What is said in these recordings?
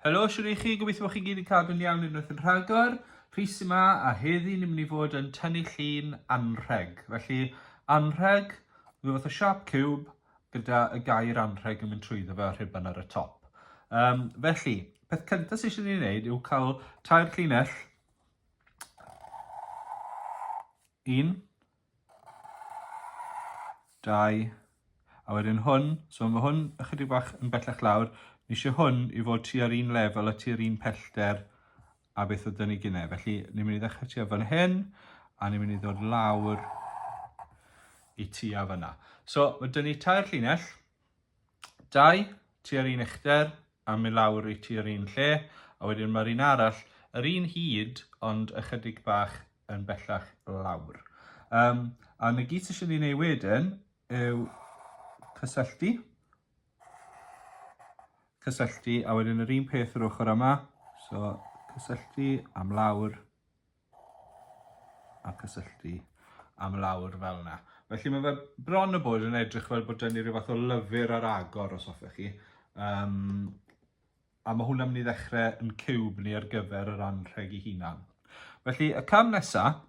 Helo, siwr i chi, gobeithio bod chi gyd yn cadw'n iawn unwaith yn rhagor. Rhys yma, a heddi ni'n mynd i fod yn tynnu llun anrheg. Felly, anrheg, rhyw fath o sharp cube, gyda y gair anrheg yn mynd trwyddo fe a rhuban ar y top. Um, felly, peth cyntaf sydd eisiau ni wneud yw cael tair llinell. Un. Dau. A wedyn hwn, so mae hwn ychydig bach yn bellach lawr. Ni eisiau hwn i fod tua'r un lefel a tua'r un pellter a beth ydyn ni gynnau. Felly, ni'n mynd i ddechrau ti fan hyn, a ni'n mynd i ddod lawr i ti a fyna. So, mae dyn ni tair llinell, dau ti ar un uchder, a mynd lawr i ti ar un lle, a wedyn mae'r un arall, yr un hyd, ond ychydig bach yn bellach lawr. Um, a na gyd sy'n ei wneud wedyn yw cysylltu cysylltu a wedyn yr un peth yr ochr yma. So cysylltu am lawr a cysylltu am lawr fel yna. Felly mae fe bron y bod yn edrych fel bod dynnu rhyw fath o lyfr ar agor os hoffech chi. Um, a mae hwnna'n mynd i ddechrau yn cywb ni ar gyfer yr anrheg i hunan. Felly y cam nesaf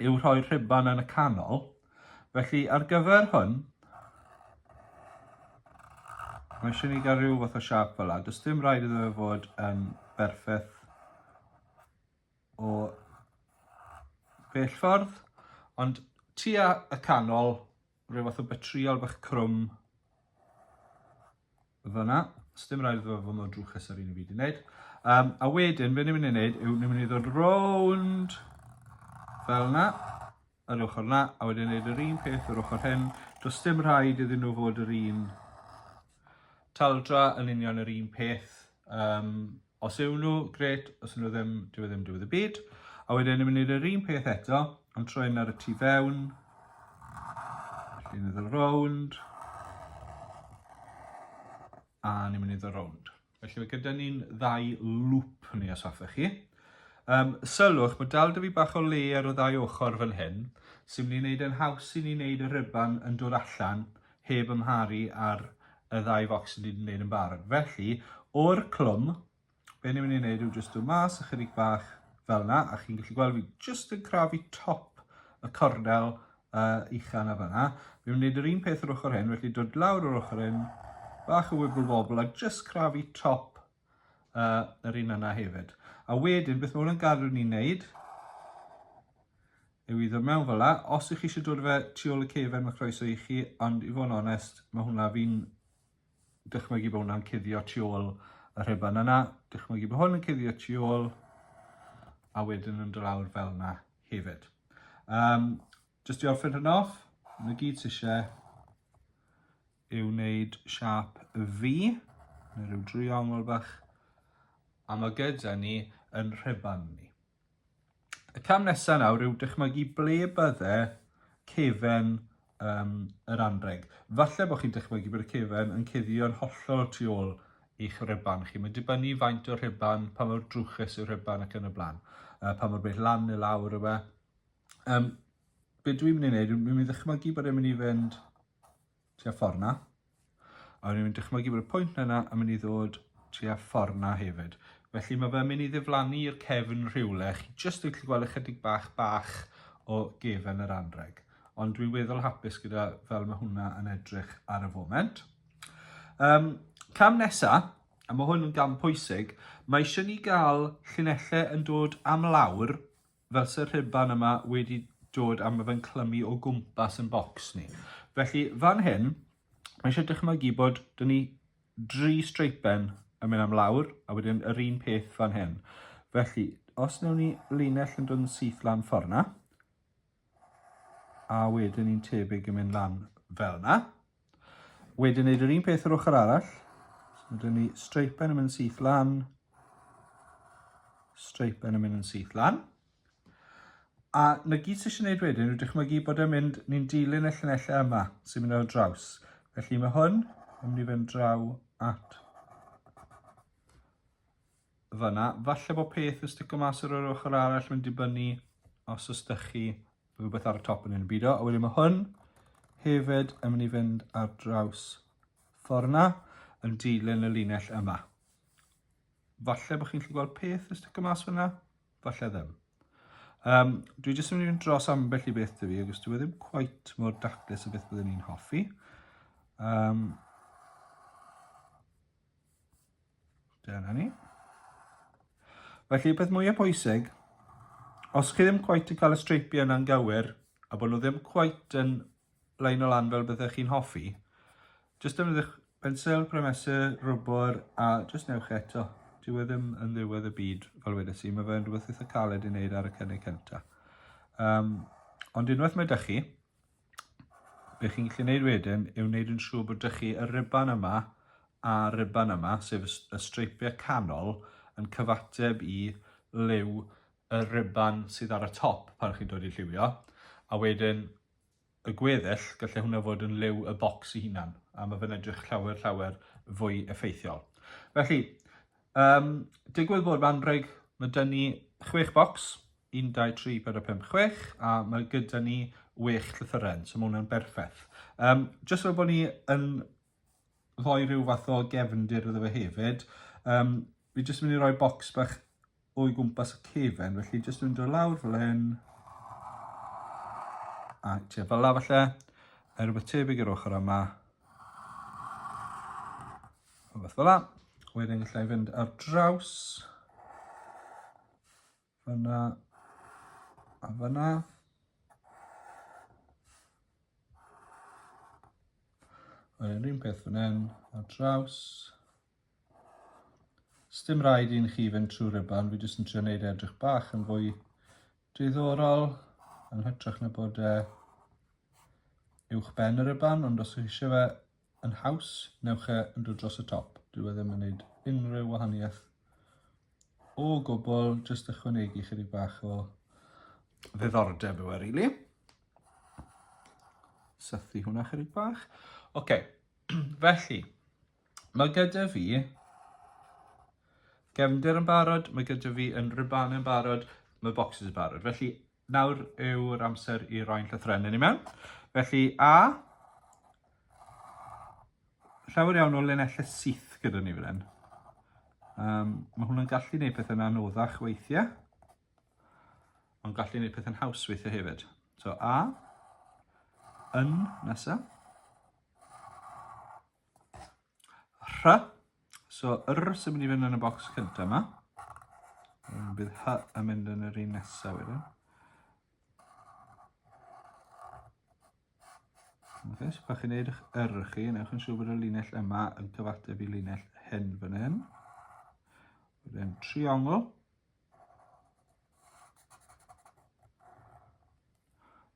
yw rhoi'r rhuban yn y canol. Felly ar gyfer hwn, mae eisiau ni gael rhyw fath o siap fel la. Does dim rhaid iddo fe fod yn berffaith o bell ffordd, ond tua y canol, rhyw fath o betriol bach crwm Fyna, sdim rhaid iddo fod mor drwchus ar un i fi wedi gwneud. Um, a wedyn, fe ni'n mynd i wneud yw, ni'n mynd i ddod rownd fel yna, yr ochr yna, a wedyn wneud yr un peth yr ochr hyn. Does dim rhaid iddyn nhw fod yr un taldra yn union yr un peth. Um, Os yw nhw, grêt, os yw nhw ddim, dyw e ddim diwedd y byd. A wedyn ni'n mynd i'r yr un peth eto, ond troi hyn ar y tu fewn. Ni'n mynd i'r rownd. A ni'n mynd i'r rownd. Felly mae gyda ni'n ddau lŵp ni os hoffech chi. Um, sylwch, mae dal dy fi bach o le ar y ddau ochr fan hyn, sy'n mynd i wneud yn haws i ni wneud y rhyban yn dod allan heb amharu ar y ddau focsen ni wedi gwneud yn barod. Felly, o'r clwm, be ni'n mynd i wneud yw jyst dod mas ychydig bach fel yna, a chi'n gallu gweld fi jyst yn crafu top y cornel uh, ucha na fanna. Fi'n mynd i wneud yr un peth yr ochr hyn, felly dod lawr yr ochr hyn, bach o wibble wobble, a jyst crafu top uh, yr un yna hefyd. A wedyn, beth mae hwnna'n gadw ni'n neud, yw i ddod mewn fel la. Os ych chi eisiau dod fe tu ôl y cefen, mae croeso i chi, ond i fod yn onest, mae hwnna fi'n dychmygu bod hwnna'n cuddio tu ôl y rhiban yna. Dychmygu bod hwn yn cuddio tu ôl, a wedyn yn dylawr fel yna hefyd. Um, just i orffen hyn off, yn y gyd sy'n eisiau, i wneud siap y fi, neu rhyw driongl bach, a mae gyda ni yn rheban ni. Y cam nesaf nawr yw dychmygu ble bydde cefen um, yr anreg. Falle bod chi'n dychmygu bod y cefen yn cuddio'n hollol tu ôl i'ch rheban chi. Mae'n dibynnu faint o rheban, pa mor drwchus yw'r rheban ac yn y blaen, uh, pa mor bell lan neu lawr yw e. Um, be dwi'n mynd i wneud, dwi'n mynd i ddychmygu bod e'n mynd i fynd tua ffordd na, a dwi'n mynd i dychmygu bod y pwynt yna yn mynd i ddod tua ffordd na hefyd. Felly mae fe'n mynd i ddiflannu i'r cefn rhywle, chi jyst yn gallu gweld ychydig bach bach o gefen yr anreg. Ond dwi'n weddol hapus gyda fel mae hwnna yn edrych ar y foment. Um, cam nesa, a mae hwn yn gam pwysig, mae eisiau ni gael llinellau yn dod am lawr Fel sy'r rhuban yma wedi dod a mae fe'n clymu o gwmpas yn bocs ni. Felly fan hyn, mae eisiau dychmygu bod dyn ni dri streipen yn mynd am lawr a wedyn yr un peth fan hyn. Felly, os newn ni linell yn dod yn syth lan ffordd na, a wedyn ni'n tebyg yn mynd lan fel na, Wedyn wneud yr un peth yr ochr arall. So dyn ni streipen yn mynd syth lan, streipen yn mynd yn syth lan. A na gyd sy'n eisiau gwneud wedyn yw dychmygu bod e'n mynd, ni'n dilyn y llunellau yma sy'n mynd ar y draws. Felly mae hwn yn mynd i fynd draw at fyna. Falle bod peth yn stico mas ar yr ochr arall mynd dibynnu os ysdych chi rhywbeth ar y top yn un byd o. A wedyn mae hwn hefyd yn mynd i fynd ar draws ffordd yna yn dilyn y linell yma. Falle bod chi'n gallu gweld peth y sticker mas fyna, falle ddim. Um, dwi jyst yn mynd i'n dros ambell i beth dwi, agos dwi e ddim quite mor daclus o beth byddwn ni'n hoffi. Um, Dyna ni. Felly, peth mwyaf pwysig, os chi ddim cweit yn cael y streipiau yna'n gywir, a bod nhw ddim cweit yn lein o lan fel byddech chi'n hoffi, jyst defnyddiwch pensel, premesur, rwbr, a jyst newch eto. Dyw e ddim yn ddiwedd y byd, fel wedi si, mae fe'n rhywbeth eitha caled i wneud ar y cynnig cyntaf. Um, ond unwaith mae dych chi, be chi'n gallu gwneud wedyn yw wneud yn siŵr bod ydych chi y riban yma a riban yma, sef y streipiau canol, yn cyfateb i liw y riban sydd ar y top pan chi'n dod i lliwio, a wedyn y gweddill, gallai hwnna fod yn liw y bocs i hunan, a mae fe'n edrych llawer, llawer fwy effeithiol. Felly, um, digwydd bod fan rheg, mae dyn ni chwech bocs, 1, 2, 3, 4, 5, 6 a mae gyda ni 8 llythyren, so mae hwnna'n berffaith. Um, just fel bod ni yn rhoi rhyw fath o gefndir iddo fe hefyd, um, fi jyst yn mynd i roi bocs bach o'i gwmpas y cefen, felly jyst yn mynd o lawr fel hyn, a tua fel la falle, er rhywbeth tebyg i'r ochr yma. Rhywbeth fel la. Wedyn gallai fynd ar draws. Fyna. A fyna. Yr un peth fan hyn, ar draws. Sdim rhaid i'n chi fynd trwy ryban, fi jyst yn trio wneud e edrych bach yn fwy diddorol, yn hytrach na bod e uwch ben y ryban, ond os ydych chi eisiau fe yn haws, newch e yn dod dros y top. Dyw e ddim yn gwneud unrhyw wahaniaeth o gwbl, jyst ychwanegu chydig bach o ddiddordeb yw e, really. Sythu hwnna chydig bach. Oce, okay. felly, mae gyda fi gefndir yn barod, mae gyda fi yn ribannau yn barod, mae boxes yn barod. Felly, Nawr yw'r amser i roi'n llythrennu ni mewn. Felly, a llawer iawn o linellau syth gyda ni fan hyn. Um, mae hwnna'n gallu gwneud pethau'n anoddach weithiau, ond gallu gwneud pethau'n haws weithiau hefyd. So A, yn nesaf. Rhy. So, yr sy'n mynd i fynd yn y bocs cyntaf yma. Bydd hy yn mynd yn yr un nesaf wedyn. Okay, so pan chi'n neud eich yr chi, newch yn siŵr bod y linell yma yn cyfateb i linell hyn fan hyn. Wedyn triongl.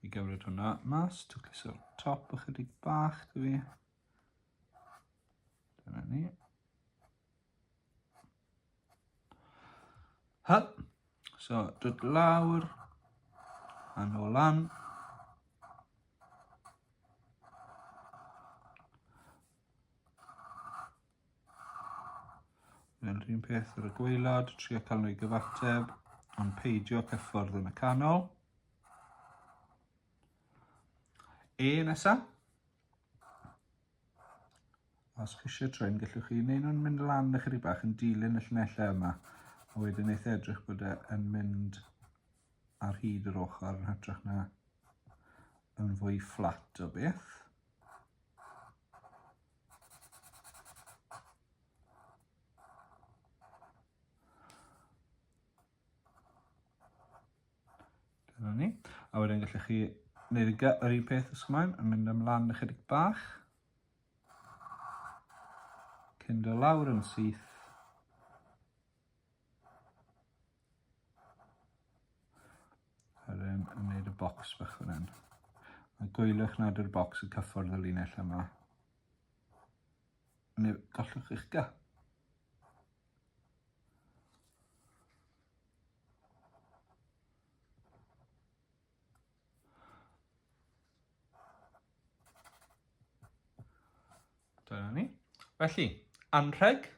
I gymryd hwnna mas, twcliso'r top ychydig bach dwi fi. Dyna ni. Ha! So, dod lawr, a nôl lan. Mae'n rhywun peth ar y gweilod, trio cael nhw i gyfateb, ond peidio cyffordd yn y canol. E nesa. Os chi eisiau troi, gallwch chi wneud nhw'n mynd lan na chyri bach yn dilyn y llunellau yma. A wedyn eith edrych bod e yn mynd ar hyd yr ochr yn hytrach na yn fwy fflat o beth. Dyna ni. A wedyn gallech chi wneud y yr un peth os ymlaen, yn mynd ymlaen ychydig bach. Cyn do lawr yn syth. Yr yn wneud y bocs bach fan hyn. A gwylwch nad yw'r bocs yn cyffwrdd y linell yma. Neu gollwch eich ga. Dyna ni. Felly, anrheg,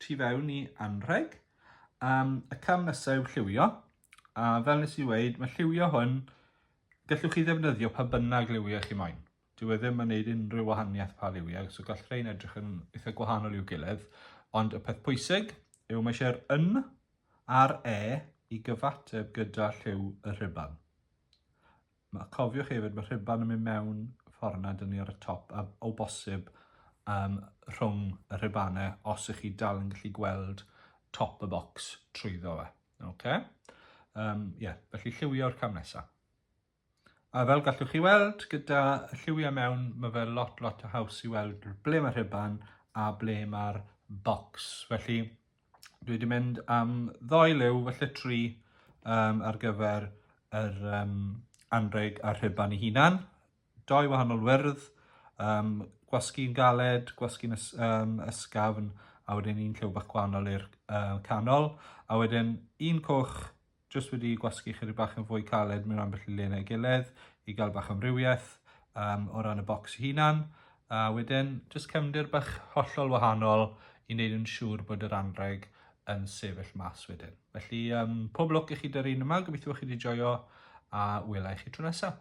tu fewn i anrheg. Um, y cam nesaf yw lliwio, a fel nes i weid, mae lliwio hwn, gallwch chi ddefnyddio pa bynnag lliwio chi moyn. Dyw e ddim yn gwneud unrhyw wahaniaeth pa lliwio, so gall rhain edrych yn eitha gwahanol i'w gilydd. Ond y peth pwysig yw mae eisiau'r yn a'r e i gyfateb gyda lliw y rhibal. A cofiwch hefyd ma' rhuban yn mynd mewn ffordd na dynnu ar y top a o bosib um, rhwng y rhubanau os ych chi dal yn gallu gweld top y box trwyddo fe. Okay? Um, yeah, felly lliwio'r cam nesaf. A fel gallwch chi weld, gyda lliwiau mewn, mae fe lot, lot o haws i weld ble mae'r rhuban a ble mae'r box. Felly, Dwi wedi mynd am ddoi liw, felly tri um, ar gyfer yr um, anreg a'r rhuban ei hunan. Doi wahanol wyrdd, um, gwasgu'n galed, gwasgu'n ys, um, ysgafn, a wedyn un lliw bach gwahanol i'r uh, canol. A wedyn un coch jyst wedi gwasgu chydig bach yn fwy caled mewn ambell i le neu gilydd i gael bach amrywiaeth um, o ran y bocs hunan. A wedyn, jyst cefndir bach hollol wahanol i wneud yn siŵr bod yr anreg yn sefyll mas wedyn. Felly, um, pob lwc i chi dy'r un yma, gobeithio chi wedi joio a wela i chi tro nesaf.